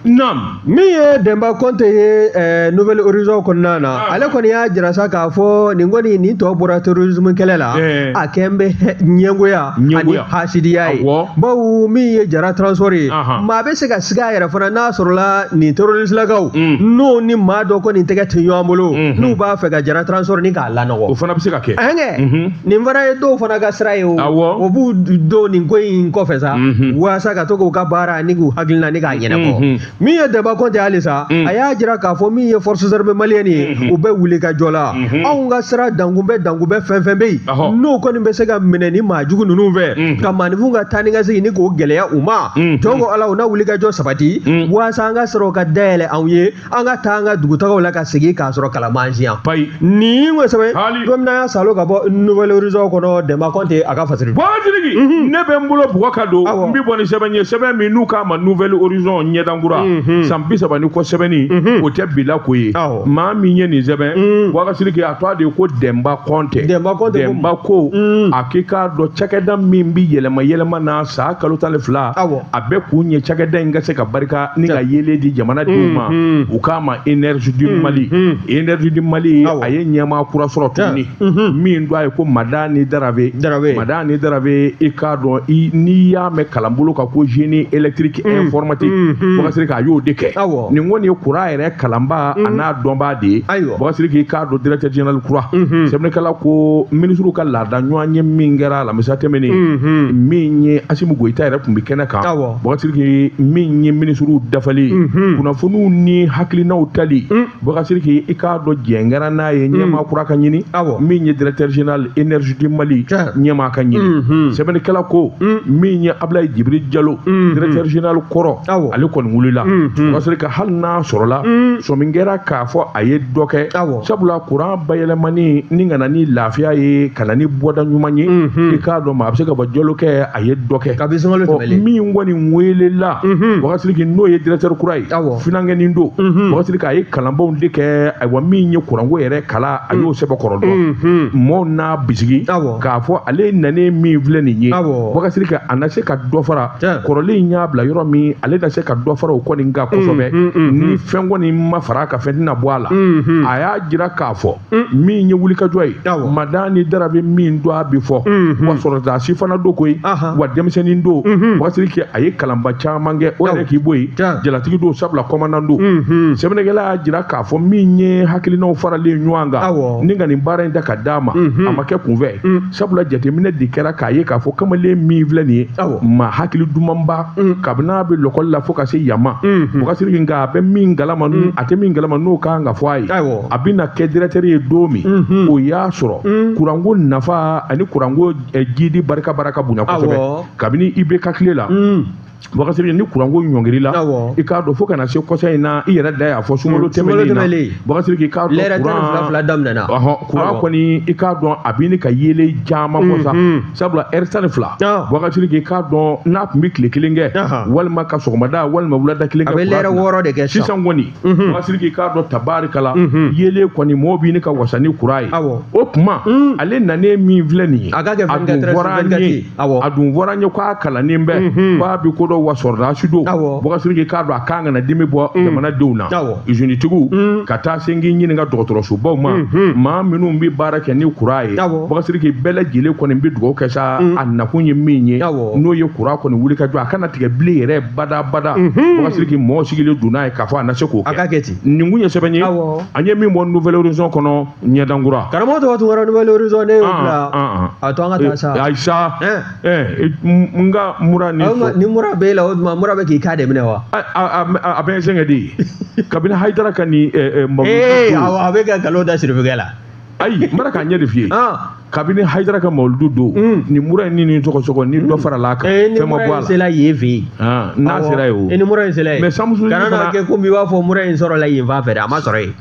Nam. Min ye Denba Konte ye eh, Nouvel Horizon kɔnɔna na, ah. ale kɔni y'a jira sa k'a fɔ nin kɔni nin tɔ bɔra terrorisme kɛlɛ la, eh. a kɛn bɛ ɲɛngoya ani hasidiya ye. Bawo min ye Jara transport ye, maa bɛ se ka siga yɛrɛ fana n'a sɔrɔla nin terroristelakaw mm. n'o ni maa dɔ kɔni tɛgɛ tɛ ɲɔgɔn bolo, mm-hmm. n'u b'a fɛ ka Jara transport ni k'a lanɔgɔ. O fana bɛ se ka kɛ. Ɛnkɛ. Mm-hmm. nin fana ye dɔw fana ka sira ye o awɔ o b'u don nin ko in kɔfɛ sa Mhm. walasa ka to k'u ka baara ni k'u hakilina ni k'a ɲɛnabɔ Mhm. min ye denba kɔnte halisa Mhm. a y'a jira k'a fɔ min ye force armée malienne ye Mhm. u bɛ wulikajɔ la Mhm. anw ka sira dankunbɛ dankunbɛ fɛn fɛn bɛ yen Ahɔ. n'o kɔni bɛ se ka minɛ ni maa jugu ninnu fɛ Mhm. ka maaninfinw ka taa ni ka segin ni k'o gɛlɛya u ma Mhm. jɔn ko ala u na wulikajɔ sabati Mhm. walasa an ka sira ka dayɛlɛ anw ye an ka taa an ka dugutagaw la ka segin k'a sɔrɔ kalan b'an si yan payi nin kosɛbɛ don min na y'a salo ka bɔ nouvel horizon kɔnɔ dɛmba kɔnte a ka fasiri Bakasiriki mhm. ne bɛ n bolo bugɔ ka don n bɛ bɔ ni sɛbɛn ye sɛbɛn min n'u k'a ma nouvel horizon ɲɛdankura mhm. san bi saba ni kɔ sɛbɛnni mhm. o tɛ bila ko ye maa min ye nin sɛbɛn mm. Bakasiriki a tɔgɔ de ko dɛmba kɔnte dɛmba ko mm. a k'i k'a dɔn cakɛda min bɛ yɛlɛma yɛlɛma na san kalo tan ni fila a bɛɛ kun ye cakɛda in ka se ka barika ni ka yeelen di jamanadenw ma u k'a ma énergie du Mali énergie du Mali a ye ɲɛmaa kura sɔrɔ tuguni min tɔgɔ ye ko Madani Darave Madani Darave i k'a dɔn n'i y'a mɛn kalanbolo kan ko génie électrique informatique Bakasiriki a y'o de kɛ nin kɔni ye kuran yɛrɛ kalanbaa a n'a dɔnbaa de ye Bakasiriki i k'a dɔn directeur général kura sɛbɛnnikɛla ko minisiriw ka laada ɲɔgɔnye min kɛra alamisa tɛmɛnen min ye Asimu Goyita yɛrɛ tun bɛ kɛnɛ kan. Bakasiriki min ye minisiriw dafalen kunnafoniw ni hakilinaw tali Bakasiriki i k'a dɔn jɛn kɛra n'a ye ɲɛmaa kura ka ɲini min ye directeur général énergie du Mali ɲɛmaa ka ɲini sɛbɛnnikɛla ko min ye Abilayi Jibiri Jalo directeur général kɔrɔ ale kɔni wulila Bakasiriki hali n'a sɔrɔla sɔmi kɛra k'a fɔ a ye dɔ kɛ sabula kuran bayɛlɛmani ni ka na ni lafiya ye ka na ni bɔda ɲuman ye i k'a dɔn maa bɛ se k'a fɔ Jalokɛ a ye dɔ kɛ kabini sunkalo tɛmɛlen min kɔni weelela Bakasiriki n'o ye directeur kura ye finankɛnin don Bakasiriki a ye kalanbaw de kɛ ayiwa min ye kuranko yɛrɛ kalan a y'o sɛbɛn kɔrɔ dɔn mɔɔw n'a bisigi k'a fɔ ale nanen min filɛ nin ye Bakasiriki a na se ka dɔ fara kɔrɔlen in y'a bila yɔrɔ min ale na se ka dɔ fara o kɔni kan kosɛbɛ ni fɛn kɔni ma fara a kan fɛn tɛna bɔ a la a y'a jira k'a fɔ min ye wulikajɔ ye Madani Darave min don a bɛ fɔ wa sɔrɔdasi fana don koyi wa denmisɛnnin don Bakasiriki a ye kalanba caman kɛ o yɛrɛ k'i bɔ yen jalatigi don sabula kɔmandan don sɛbɛnnikɛla y'a jira k'a fɔ min ye hakilinaw faralen ɲɔgɔn kan ni ka nin baara in ta k'a d'a ma a ma kɛ kunfɛ sabula jateminɛ de kɛra k'a ye k'a fɔ kamalen min filɛ nin ye maa hakili dumanba kabini a bɛ lɔkɔli la fo ka se yan ma Bakasiriki nka a bɛ min kalama a tɛ min kalama n'o ka kan ka fɔ a ye a bɛ na kɛ directeur ye don min o y'a sɔrɔ kuranko nafa ani kuranko jidi barika barika bonyana kosɛbɛ kabini IBK tile la Bakasiriki nin kuranko ɲɔngirila i k'a dɔn fo ka na se kɔsa in na i yɛrɛ da y'a fɔ sunkalo tɛmɛnen na Bakasiriki i k'a dɔn kuran kɔni i k'a dɔn a bɛ ka yelen caman kɔsa sabula heure tan ni fila Bakasiriki i k'a dɔn n'a tun bɛ tile kelen kɛ walima ka sɔgɔmada walima wulada kelen kɛ a bɛ lɛrɛ wɔɔrɔ de kɛ sisan kɔni bɔkari sidiki k'a dɔn tabarikala yeelen kɔni mɔgɔw bɛ ne ka wasa ni kuran ye o tuma ale nanen min filɛ nin ye a dun fɔra an ye k'a kalannen bɛ k'a bɛ ko dɔn wa sɔrɔdasi don bɔkari sidiki k'a dɔn a kan ka na dimi bɔ jamanadenw na izinitigiw ka taa se k'i ɲininka dɔgɔtɔrɔsobaw ma maa minnu bɛ baara kɛ ni kuran ye bɔkari sidiki bɛɛ lajɛlen kɔni bɛ dugawu kɛ sa a nakun ye min ye n'o ye kuran kɔni wuli ka jɔ a kana tigɛ bilen yɛrɛ bada bada bɔkari sidiki mɔgɔw sigilen don n'a ye k'a fɔ a na se k'o kɛ a ka kɛ ten nin kun ye sɛbɛn ye awɔ an ye min bɔ nouvel horizon kɔnɔ ɲɛdan kura karamɔgɔ tuguna tarawere nouvel horizon ne y'o bila a to an ka taa sa ayi sa ɛɛ n ka mura ni fɔ ni mura b'e la o tuma mura bɛ k'i k'a de minɛ wa a bɛ n sɛgɛn de kabini hayidara ka nin mɔgɔ ee awɔ a bɛ ka nkalon da sirifukɛ la ayi n bɛna k'a ɲɛ de f'i ye ah. kabini hayidara ka mawuludu don hmm. nin mura in ni nin sɔgɔsɔgɔ ni dɔ hmm. farala kan eh, fɛn ma bɔ a la sela yen fɛ yen ah, n'a sera yen o eh, ni mura in sela yen mais samusu kana kɛ komi i b'a fɔ mura in sɔrɔla yen fan fɛ dɛ a ma sɔrɔ yen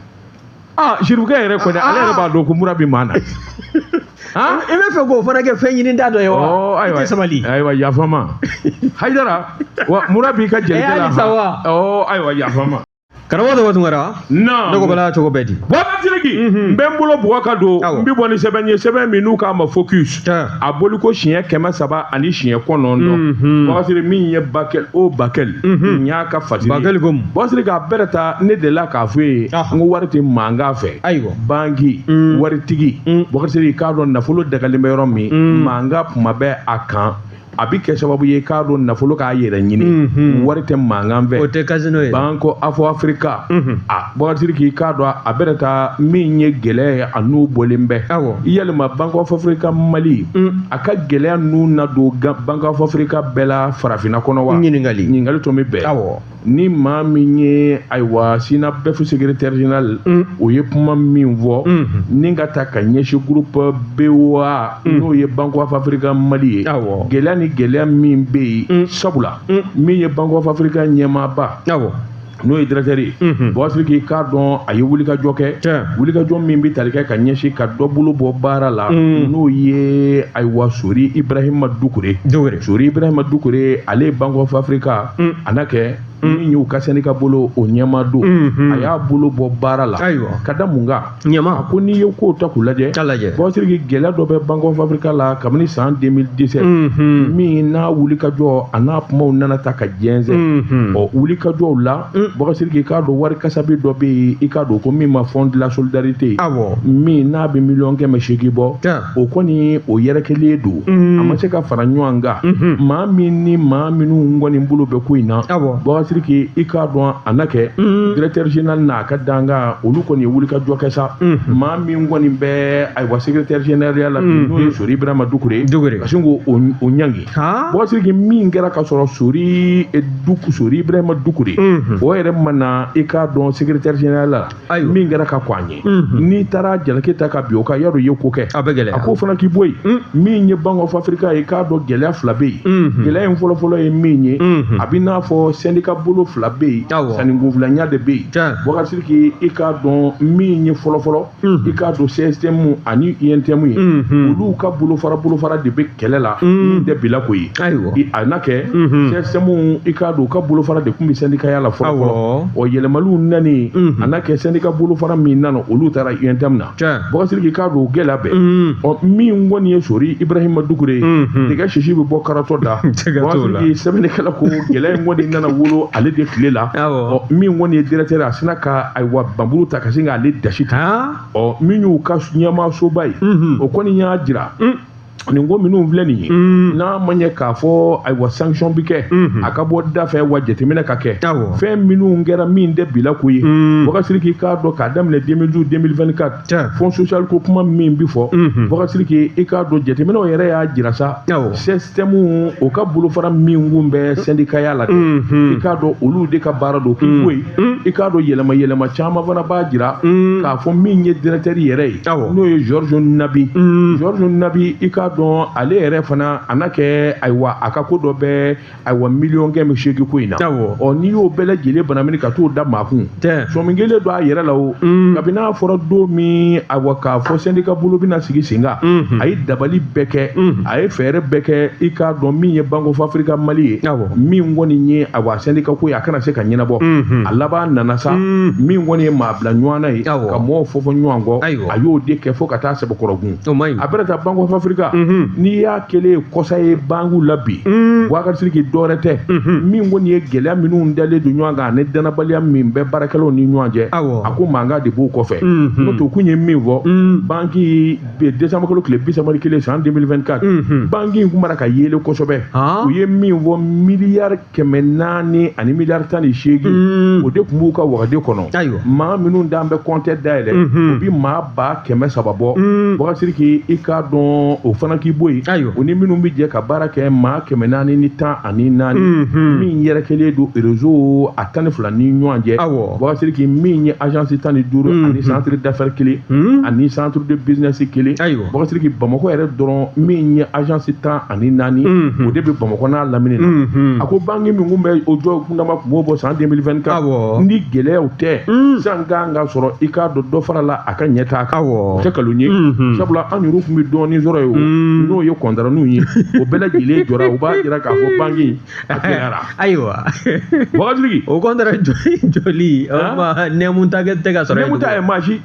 aa ah, sirifukɛ yɛrɛ kɔni ale yɛrɛ b'a dɔn ko mura bɛ maa na i bɛ fɛ k'o fana kɛ fɛn ɲini da dɔ ye wa oh, i tɛ sabali ayiwa yafa n ma hayidara mura b'i ka jelikɛ la eh, ayiwa yafa n ma karamɔgɔ tɔgɔ tun kɛra ne ko bala cogo bɛɛ di bɔkari sidiki n bɛ n bolo bugɔ ka don n bɛ bɔ ni sɛbɛn ye sɛbɛn min n'u k'a ma focus a bɔli ko siɲɛ kɛmɛ saba ani siɲɛ kɔnɔntɔn bɔkari sidiki min ye bakɛli o bakɛli n y'a ka fati bakɛli ko bɔkari sidiki k'a bɛrɛ ta ne de la k'a fɔ ye n ko wari tɛ mankan fɛ ayiwa banki waritigi bɔkari sidiki k'a dɔn nafolo dagalen bɛ yɔrɔ min mankan kuma bɛ a kan a bɛ kɛ sababu ye k'a to nafolo k'a yɛrɛ ɲini mhm. wari tɛ mankan fɛ o tɛ kasino ye bank of africa mhm. a bɔkari sidiki k'a dɔn a bɛrɛ ta min ye gɛlɛya ye a n'u bɔlen bɛ yalima bank of africa mali mm. a ka gɛlɛya n'u na don bank of africa bɛɛ la farafinna kɔnɔ wa ɲininkali tun bɛ bɛn ni maa min ye ayiwa synabef secrétaire général mm. o ye kuma min fɔ mm. ni ka taa ka ɲɛsin groupe boa mm. n'o ye bank of africa mali ye gɛlɛya ni gɛlɛya min bɛ yen sabula min ye bank of africa ɲɛmaaba n'o ye directeur ye mhm. bɔkari sidiki k'a dɔn a ye wulikajɔ kɛ wulikajɔ min bɛ tali kɛ ka ɲɛsin ka dɔ bolo bɔ baara la mhm. n'o ye ayiwa sori ibrahima dukure sori ibrahima dukure ale ye bank of africa Mm. a na kɛ mm. min y'u ka syndicat bolo o ɲɛmaa don mm-hmm. a y'a bolo bɔ baara la ayiwa ka da mun kan a ko n'i ye kow ta k'u lajɛ bɔkari sidiki gɛlɛya dɔ bɛ bank of africa la kabini san 2017 mm-hmm. min n'a wulikajɔ a n'a kumaw nana ta ka jɛnsɛn mm-hmm. ɔ wulikajɔw la bɔkari sidiki i k'a dɔn wari kasabi dɔ bɛ yen i k'a dɔn ko min ma fonds de la solidarité awɔ min n'a bɛ miliyɔn kɛmɛ seegin bɔ o kɔni o yɛrɛkɛlen don a ma se ka fara ɲɔgɔn kan maa min ni maa minnu kɔni bolo bɛ ko in na Bɔkari Sidiki i k'a dɔn a na kɛ directeur général n'a ka dankan olu kɔni ye wulikajɔ kɛ sa maa min kɔni bɛ ayiwa secrétaire généralya la n'o ye Sori Ibrahima Dukure ka sin k'o ɲangi Bɔkari Sidiki min kɛra ka sɔrɔ Sori Sori Ibrahima Dukure o yɛrɛ ma na i k'a dɔn secrétaire général la ayiwa min kɛra ka kɔn a ɲɛ n'i taara jalaki ta ka bin o kan yadɔ i ye ko kɛ a bɛ gɛlɛya a k'o fana k'i bɔ yen min ye Bank of Africa ye k'a dɔn gɛlɛya fila bɛ yen gɛlɛya in fɔlɔfɔlɔ ye min ye a bɛ n'a fɔ sɛndika bolo fila bɛ yen Awɔ. sɛndika filanya de bɛ yen Tiɲɛ. Bɔkari Sidiki i k'a dɔn min ye fɔlɔfɔlɔ i k'a dɔn CSTM ani UNTM ye olu ka bolofara bolofara de bɛ kɛlɛ la min tɛ bila ko ye Ayiwa a na kɛ CSTM i k'a dɔn u ka bolofara de tun bɛ sɛndikaya la fɔlɔ yɛlɛmaliw nalen a na kɛ sɛndika bolofara min nana olu taara UNTM na Bɔkari Sidiki k'a dɔn o gɛlɛya bɛɛ ɔ min kɔni ye Sori Ibrahima Dukure ye nɛgɛ sisi bɛ bɔ karatɔ da sɛbɛnnikɛla ko gɛlɛya in kɔni nana wolo ale de tile la min kɔni ye directeur a sinna ka ayiwa npanmuru ta ka sin k'ale dasi ta ɔ min y'u ka ɲɛmaasoba ye o kɔni y'a jira nin ko minnu filɛ nin ye mm. n'a ma ɲɛ k'a fɔ ayiwa sanction bɛ kɛ mm-hmm. a ka bɔ da fɛ wa jateminɛ ka kɛ fɛn minnu kɛra min tɛ bila ko ye mm. Bɔkari Sidiki k'a dɔn k'a daminɛ 2012 2024 fond social ko kuma min bɛ fɔ mm-hmm. Bɔkari Sidiki i k'a dɔn jateminɛw yɛrɛ y'a jira sa CSTM o ka bolofara min kun bɛ sɛndikaya la dɛ mm-hmm. i k'a dɔn olu de ka baara don k'i bɔ yen un i k'a dɔn yɛlɛma yɛlɛma caman fana b'a jira un k'a fɔ min ye directeur yɛrɛ ye Awɔ. n'o ye Georges Nabi un Georges Nabi i k'a dɔn ale yɛrɛ fana a na kɛ ayiwa a ka ko dɔ bɛ ayiwa miliyɔn kɛmɛ seegin ko in na Awɔ. ɔ n'i y'o bɛɛ lajɛlen banamini ka t'o da maa kun sɔmi kɛlen don a yɛrɛ la o un kabini n'a fɔra don min ayiwa k'a fɔ sɛndika bolo bɛna sigi sen kan unhun a ye dabali bɛɛ kɛ un a ye fɛɛrɛ bɛɛ kɛ i k'a dɔn min ye Bank of Africa Mali ye min kɔni ye ayiwa sɛndika ko ye a kana se ka ɲɛnabɔ a laban nana sa min kɔni ye maa bila ɲɔgɔn na ye ka mɔgɔw fɔ fɔ ɲɔgɔn kɔ a y'o de kɛ fo ka taa sɛbɛkɔrɔkun a bɛna taa Bank of Africa n'i y'a kelen ye kɔsa ye banki la bi Bɔkari Sidiki dɔwɛrɛ tɛ min kɔni ye gɛlɛya minnu dalen don ɲɔgɔn kan ani danabaliya min bɛ baarakɛlaw ni ɲɔgɔn cɛ a ko mankan de b'o kɔfɛ n'o tɛ kun ye min fɔ banki bi ye décembre kalo tile bi saba ni kelen san 2024 Unhun. banki in kun b'a la ka yɛlɛn kosɛbɛ Han. u ye min fɔ miliyari kɛmɛ naani ani miliyari tan ni seegin Mm. o de tun b'u ka wagande kɔnɔ Ayiwa. maa minnu dun bɛ kɔntɛ dayɛlɛ Unhun. o bi maa ba kɛmɛ saba bɔ Mm. Bɔkari Sidiki i k'a dɔn o fana k'i bɔ yen Ayiwa. u ni minnu bɛ jɛ ka baara kɛ maa kɛmɛ naani ni tan ani naani mhm. min yɛrɛkɛlen don rezo a tan ni fila ni ɲɔgɔn cɛ bubakar siriki min ye agence tan ni duuru mhm. ani centre d'affaires kelen mhm. ani centre de business kelen bubakar siriki bamakɔ yɛrɛ dɔrɔn min ye agence tan ani naani o de bɛ bamakɔ n'a lamini na a ko banki min kun bɛ o jɔ kundama kun b'o bɔ san 2024 ni gɛlɛyaw tɛ san kan ka sɔrɔ i k'a dɔn dɔ farala a ka ɲɛtaa kan tɛ nkalon ye sabula an yɛrɛ tun bɛ dɔɔni sɔrɔ ye n'o ye kɔntara ninnu ye o bɛɛ lajɛlen jɔra u b'a jira k'a fɔ banki ara ayiwa wagadu o kɔn jɔli nɛmu ta tɛ ka sɔrɔ nɛmu ta ye maasi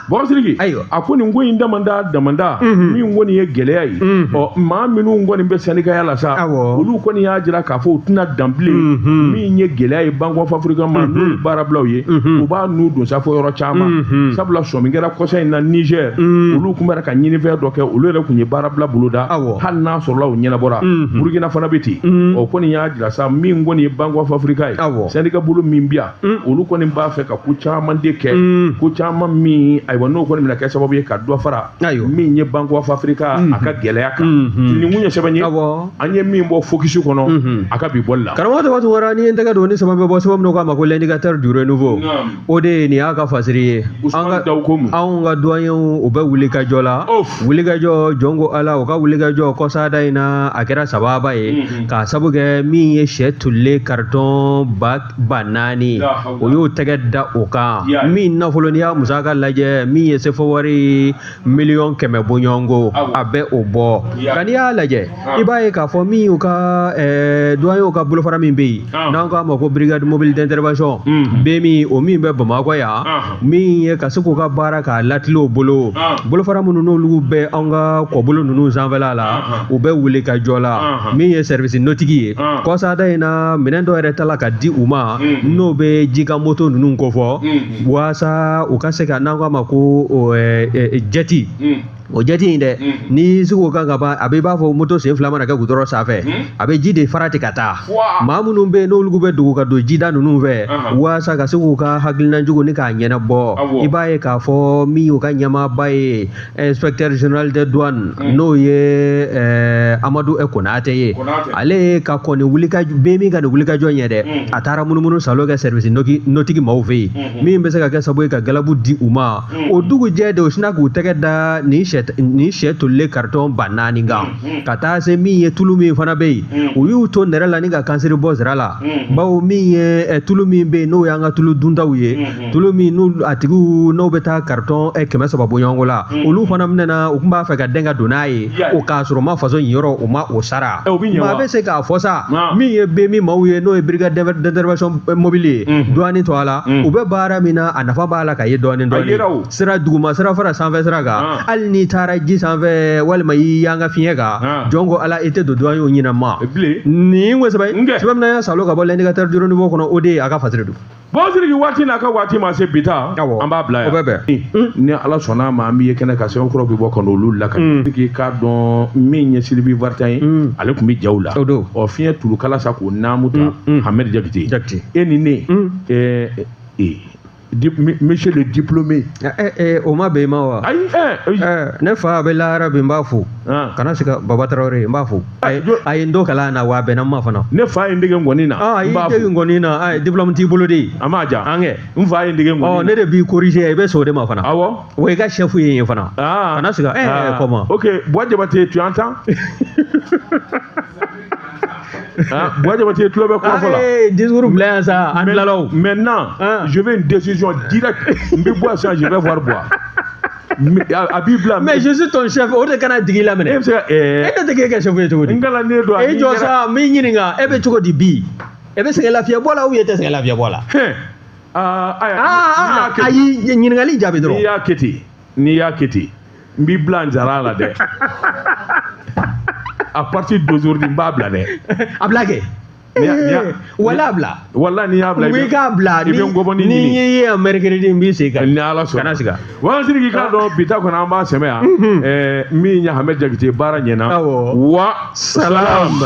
bubakar siriki ayiwa a ko nin ko in damada damada min kɔni ye gɛlɛya ye ɔ maa minnu kɔni bɛ sɛndikaya la sa olu kɔni y'a jira k'a fɔ u tɛna dan bilen min ye gɛlɛya ye bank of afirika ma n'u baarabila ye u b'a nun don sa fo yɔrɔ caman mhm. sabula sɔmi kɛra kɔsa in na nizɛr mhm. olu tun bɛra ka ɲinifɛn dɔ kɛ olu yɛrɛ tun ye baarabila boloda hali n'a sɔrɔla o ɲɛnabɔra mhm. burukina fana bɛ ten o kɔni y'a jira sa min kɔni ye bank of afirika ye sɛndika bolo min bi yan olu kɔni b'a fɛ ka ko caman de kɛ ko caman min ayiwa n'o kɔni bɛna kɛ sababu ye ka dɔ fara ayiwa min ye bank of afirika a ka gɛlɛya kan nin kun ye sɛbɛn ye awɔ an ye min bɔ fokisi kɔnɔ Mhm. a ka bi bɔli la karamɔgɔ tɔgɔ tun wara ni ye n tɛgɛ don ni sama bɛ bɔ sɛbɛn min k'a ma ko l'indicateur du renouveau Naam. o de ye nin y'a ka fasiri ye an usman ka dawu ko mun anw ka duwanyew u bɛ wulikajɔ la Of. wulikajɔ jɔn ko ala u ka wulikajɔ kɔsada in na a kɛra sababu ye Mhm. k'a sabu kɛ min ye sɛ tolilen karitɔn ba ba naani o y'o tɛgɛ da o kan min nafolo n'i y'a musaka lajɛ min ye sefɔ wari miliyɔn kɛmɛ bɔɲɔgɔnko a bɛ o bɔ nka n'i y'a lajɛ i b'a ye k'a fɔ min y'u ka duwanyew ka bolofara min bɛ yen n'an k'a ma ko brigade mobile d'intervention BMI o min bɛ bamakɔ yan min ye ka se k'u ka baara k'a latilen u bolo ah. bolofara minnu n'olu bɛ an ka kɔbolo ninnu sanfɛla la ah, ah. u bɛ wuli ka jɔ la min ye service nautique ye kɔsada in na minɛn dɔ yɛrɛ tala ka di u ma mm-hmm. n'o bɛ jikan moto ninnu kofɔ mm-hmm. waasa u ka se ka n'an k'a ma ko jɛti mm. o jɛti in dɛ ni siko kan ka ban a bɛ i b'a fɔ moto sen fila mana kɛ gudɔrɔn sanfɛ a bɛ ji de fara ten ka taa maa minnu bɛ yen n'olu bɛ dogo ka don jida ninnu fɛ walasa ka se k'u ka hakilina jugu ni k'a ɲɛnabɔ i b'a ye k'a fɔ min y'u ka ɲɛmaaba ye inspecteur général des douanes n'o ye eh, amadu eh, konate ye ale ka kɔni wulika bɛ min ka nin wulikajɔ ɲɛ dɛ a taara munumunu saalo kɛ service nautique maaw fɛ yen min bɛ se ka kɛ sababu ye ka galabu di u ma o dugujɛ de o sina k'u tɛgɛ da nin sɛ nin sɛ tolilen karitɔn ba naani kan ka taa se min ye tulu min fana bɛ yen u y'u to nɛrɛ la ni ka kansiri bɔ sira la bawo min ye eh, tulu min bɛ yen n'o y'an ka tulu duntaw ye tulu min n'u a tigiw n'o bɛ taa karitɔn eh, kɛmɛ saba bɔɲɔgɔnko la olu fana minɛna u tun b'a fɛ ka dɛn ka don n'a ye o k'a sɔrɔ ma faso in yɔrɔ o ma o sara maa bɛ se k'a fɔ sa min ye bɛ min maaw ye n'o ye brigade d'intervention mobile ye douane tɔgɔ la u bɛ baara min na a nafa b'a la ka ye douane sira duguma sira fara sanfɛ sira kan hali n'i taara ji sanfɛ walima y'i yan ka fiɲɛ kan jɔn ko ala i tɛ don douanierw ɲinɛ ma nin ko sɛbɛn min y'a salo ka bɔ L'Indicateur du Renouveau kɔnɔ o de ye a ka fasiri don bon Sidiki waati n'a ka waati ma se bi ta an b'a bila yan o bɛ bɛn ni ala sɔnna ma an b'i ye kɛnɛ kan sɛbɛn kuraw bɛ bɔ ka n'olu lakali k'i k'a dɔn min ye Sylvie Vartan ye ale tun bɛ jaw la o don ɔ fiɲɛ tulukala sa k'o naamu ta hamɛdi jakite e ni ne ɛɛ ee monsieur le diplômé. o ma bɛn i ma wa. ayi ne fa a bɛ lahara bi n b'a fo. kana siga baba tarawele n b'a fo. a ye n don kalan na wa a bɛnna n ma fana ne fa ye n dege ŋɔni na a y'i dege ŋɔni na a diplôme t'i bolo de a m'a ja an kɛ n fa ye n dege ɔ ŋɔni ne de b'i corriger i bɛ sɔn o de ma fana na awɔ wa i ka chef ye n ye fana Ah. kana siga eh Ah. comment ok bois jabate tu entends Hein, bois jabate tulo bɛ kuma fɔ la Eh, discours bila yan sa an tilala o maintenant Ah. je veux une décision directe n bɛ bois sisan je vais voir bois a b'i bila mais je suis ton chef o de kana digi i la minɛ e bɛ se ka ɛɛ e tɛ dege kɛ chef ye cogo di n kalan ne don e jɔ sa n b'i ɲininka e bɛ cogo di bi e bɛ sɛgɛn lafiya bɔ la ou e tɛ sɛgɛn lafiya bɔ la aa ayi ɲininkali jaabi dɔrɔn n'i y'a kɛ ten n'i y'a kɛ ten n b'i bila n jara la dɛ à partir d'aujourd'hui n b'a bila dɛ a bila kɛ wala bila walayi n'i y'a bila i bɛ k'a bila i bɛ ngɔbɔni ɲini n'i ye yan mercredi n b'i sen kan ni ala sɔnna kana siga wa Sidiki k'a dɔn bi ta kɔnɔ an b'a sɛmɛ yan min ye hamɛdi jakite baara ɲɛna wa salam